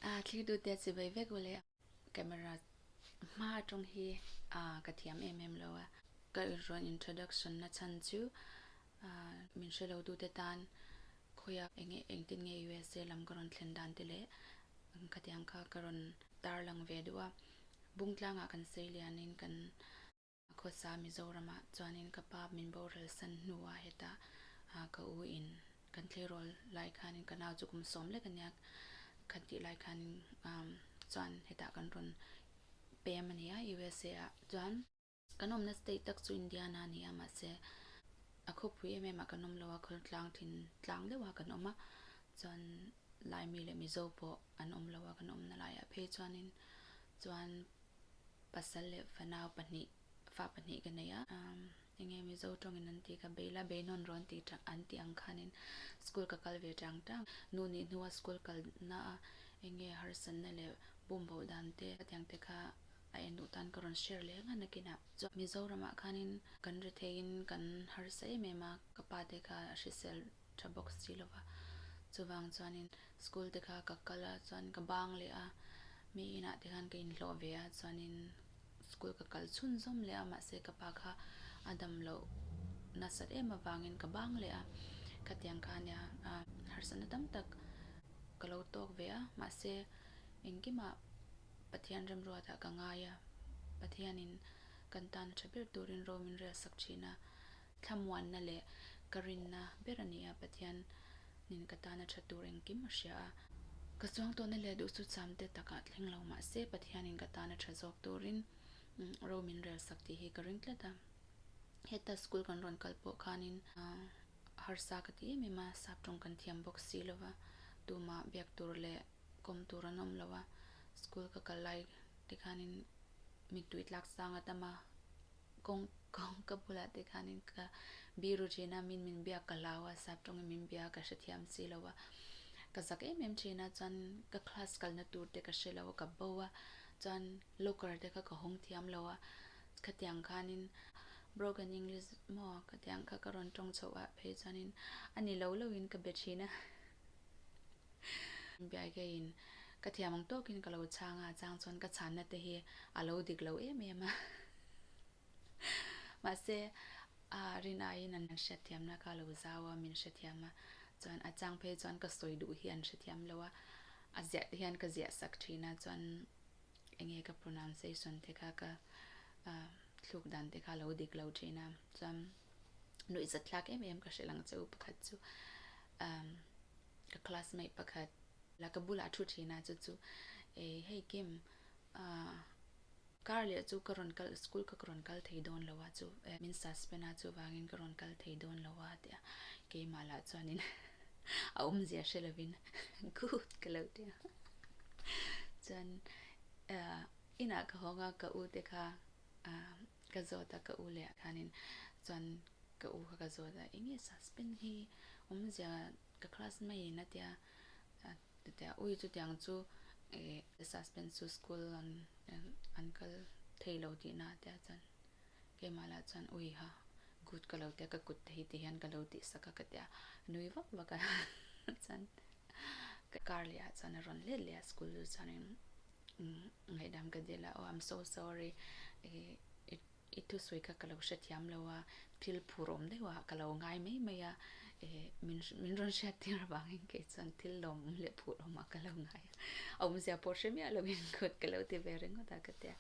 A thlir duhte chu vei vek vawlei a camera hma atang hi a ka thiam em em lo a, ka rawn introduction na chhan chu min hre lo dute tan khawi a, eng nge engtin nge usa lam ka rawn thlen dan te leh khatiang kha ka rawn tarlang ve duh a, bungtlangah kan sawi lianin kan. Khawsa Mizoramah chuanin ka pa min boral san hnuah heta ka u in kan thleirawl lai khanin ka nau chu kum sawm lek a nia, khan tih lai khanin chuan heta kan rawn pem a ni a usa ah chuan. Kan awmna state tak chu Indiana a ni a mahse a khawpui em em ah kan awm lo a khawl tlang thin tlang deuh ah kan awm a chuan Laimi leh Mizo pawh an awm lo a kan awmna laiah phei chuanin chuan Pasal leh fanau pahnih, fa pahnih ka nei a. Enge Mizo tawngin an ti ka bei la, beinawn rawn ti tang an ti ang khanin school ka kal ve tang tang. Nu nih hnua school kal na a enge harsanna leh bumboh dan te ka tiang te kha a en duh tan ka rawn share leh nghan a kina. Chuan Mizoramah khanin kan retheiin kan harsa em em a, ka pa te kha a hrisel tha bawk si lo va. Chuvang chuanin school te kha ka kal a, chuan ka bang leh a, mi inah te khan ka inhlawh ve a, chuanin school ka kal chhun zawm leh a, mahse ka pa kha a dam loh nasat em avangin ka bang leh a, khatiang kha nia harsatna tam tak ka lo tawk ve a, mahse engkimah Pathian remruata ka ngai a, Pathianin kan tana tha ber turin Romin rel sak thin a, Thlamuanna leh ka rinna ber a ni a, Pathianin ka tana tha tur engkim a hria a. Ka chuangtawhna leh duhsu chamte tak a thleng lo mah se, Pathianin ka tana tha zawk turin ro min rel sak tih hi ka ring tlat a. Heta school kan rawn kal pawh khanin, harsa ka ti em em a, sap tawng kan thiam bawk si lo va, tumah biak tur leh kawm tur an awm lo a, school ka kal lai tikhanin mittui tlak sang a tam a, kawng kawng ka bulah tikhanin ka biru thin a, min min biak ka hlau a, sap tawngin min biak a ka hrethiam si lo a, ka zak em em thin a, chuan ka class kalna tur te ka hre lo a, ka bo a, chuan locker te kha ka hawng thiam lo a, khatiang khanin broken English maw khatiang kha ka rawn tawng chhoh a, phei chuanin a ni lo lo in ka be thin a. Biaikei in ka thiam ang tawk in ka lo chhang a, chang chuan ka chhan na te hi a lo dik lo em em a, mahse a rin ai in an hria thiam na ka lo zau a, min hria thiam a, chuan a chang phei chuan ka sawi duh hi an hria thiam lo a, a ziah te hian ka ziah sak thin a, chuan eng nge ka pronunciation te kha ka thluk dan te kha a lo dik lo thin a, chuan. nuih zat tlak em em ka hreh lang che u pakhat chu umm ka classmate pakhat la ka bulah thu thin a chu chu eh hei kim ah car leh chu ka rawn kal school ka rawn kal thei dawn lo a chu eh min suspend a chuvangin ka rawn kal thei dawn lo a tia keimah lah chuanin a awmzia hre lovin good ka lo tia chuan eh inah ka hawnga ka ute kha ah Ka zawt a ka u leh ah khanin chuan ka u kha ka zawt a enge suspense hi awm zia ka class mai in a tia tute a ui chutiang chu eh suspense chu school an an kal thei lo tih na tia chuan keimah lah chuan ui ha good ka lo tia ka kut te hi ti hian ka lo tih sak a ka tia nui vak vak a chuan ka kar leh ah chuan a rawn let leh a school chu chuan in. Ngaihdam ka dil a, oh I'm so sorry, i thusawi kha ka lo hrethiam lo a, thil phur awm deuh ah ka lo ngai mai mai a, min rawn hriat tir avangin kei chuan thil lawm leh phur awm ah ka lo ngai a, a awmzia pawh hre miah lovin kut ka lo ti ve ringawt a ka ti a,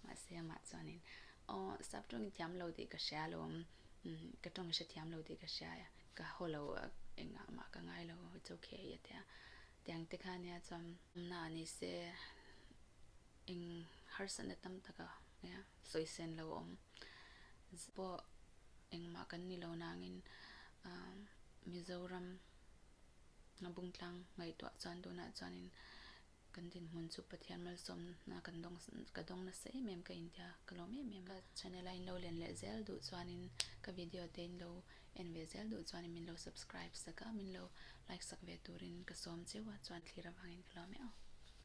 mahse amah chuanin oh sap tawngin thiam lo tih ka hria alawm, ka tawngin hrethiam lo tih ka hria, ka haw lo engah mah ka ngai lo, it's okay a ti a. Tiang te kha nia chuan awmna a ni se eng harsa na tam taka nia sawi sen lo awm zia pawh engmah kan ni lo nangin Mizoram a bung tlang ngaihtuah chuan tunah chuanin kan dinhmun chu Pathian malsawmna kan dawng ka dawng nasa em em ka intia ka lawm em em a. Ka channel a inlo len leh zel duh chuanin ka video te inlo. En ve zel duh chuan min lo subscribe sak a, min lo like sak ve turin ka sawm cheu a chuan thlir avangin ka lo melh.